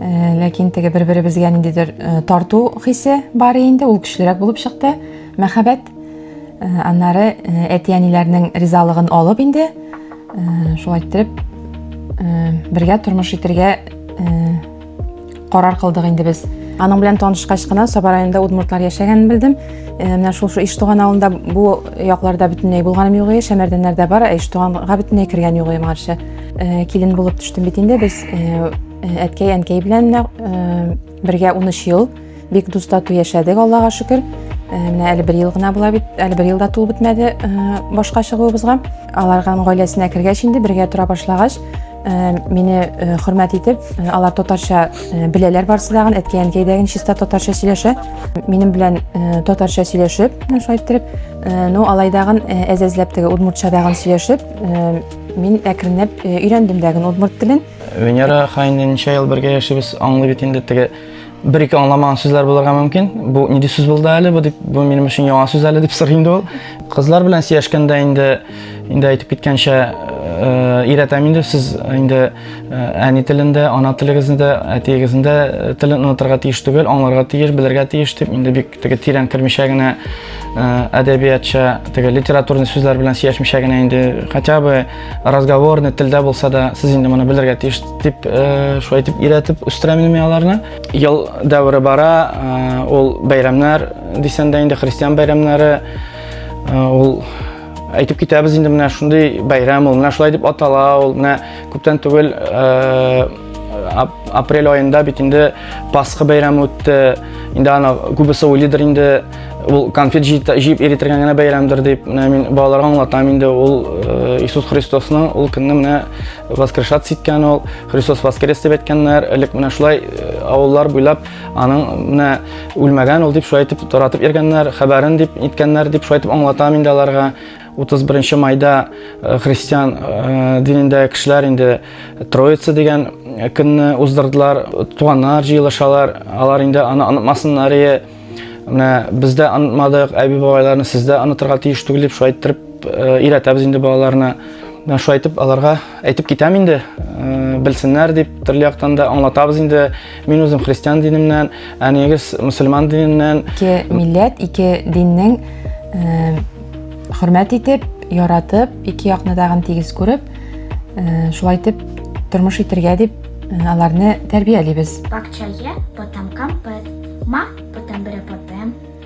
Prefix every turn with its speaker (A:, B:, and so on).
A: Э, ләкин теге бер беребезгә ниндидер э, тарту хисе бар инде ул көчлерәк булып чыкты мәхәббәт э, аннары әти әниләрнең ризалыгын алып инде шулай иттереп бергә тормыш итәргә карар кылдык инде без аның белән танышкач кына саба районында удмуртлар яшәгәнен белдем менә шул шул иштуган авылында бу якларда бөтенләй булганым юк иде шәмәрдәннәрдә бар ә иштуганга бөтенләй кергән юк иде моңарчы килен булып төштем бит инде без Әткәй, әнкәй белән менә бергә 13 ел бик дус тату яшәдек, Аллага шөкер. Менә әле бер ел гына була бит, әле бер ел да тулып бетмәде башка чыгуыбызга. Аларга гаиләсенә кергәч инде бергә тора башлагач, мине хөрмәт итеп, алар татарча беләләр барсы да, әткәй, әнкәй дә чиста татарча сөйләшә. Минем белән татарча сөйләшеп, шулай иттереп, ну алайдагын әзәзләп теге удмуртчадагын сөйләшеп, мин әкренләп өйрәндем дә удмурт телен. Венера хаин
B: ничә ел бергә яшибез, аңлый бит инде теге бер ике аңламаган сүзләр булырга мөмкин. Бу нинди сүз булды әле? Бу дип бу минем өчен яңа сүз әле дип сорый инде ул. Кызлар белән сөйләшкәндә инде инде әйтеп киткәнчә өйрәтәм э, инде сез инде э, әни телендә, ана телегезне дә, әтиегезнең дә э, телен онытырга тиеш түгел, аңларга тиеш, белергә тиеш дип инде бик Теге тирән кермичә генә әдәбиятча, теге литературный сүзләр белән сөйләшмичә генә инде хотя бы разговорный телдә булса да сез инде моны белергә тиеш дип шулай итеп өйрәтеп үстерәм инде мин аларны. Ел дәвре бара, ул бәйрәмнәр дисәң дә инде христиан бәйрәмнәре ул әйтеп китәбез инде менә шундый бәйрәм ул менә шулай дип атала ул менә күптән түгел апрель айында бит инде пасха бәйрәме үтте инде аны күбесе уйлыйдыр инде ул конфет җыеп иретергә генә бәйрәмдер дип менә мин балаларга аңлатам инде ул э, иисус христосның ул көнне менә воскрешаться иткән ул христос воскрес дип әйткәннәр элек менә шулай э, авыллар буйлап аның менә үлмәгән ул дип шулай итеп таратып йөргәннәр хәбәрен дип иткәннәр дип шулай итеп аңлатам инде аларга 31 майда э, христиан э, динендә кешеләр инде Троица дигән э, көнне уздырдылар. Туганнар җыелышалар, алар инде аны онытмасыннар ие. Менә бездә онытмадык, әби бабайларны сездә онытырга тиеш түгел дип шулай иттереп өйрәтәбез инде балаларны. Менә шулай итеп аларга әйтеп китәм инде, белсеннәр дип, төрле яктан да аңлатабыз инде. Мин үзем христиан динемнән, әниегез мусульман диненнән. Ике милләт,
A: ике диннең хөрмәт итеп, яратып, ике якны тагын тигез күреп, шулай итеп тормыш итергә дип аларны тәрбиялибез. Бакчае
C: потамкам пыт, ма потамбыре потем,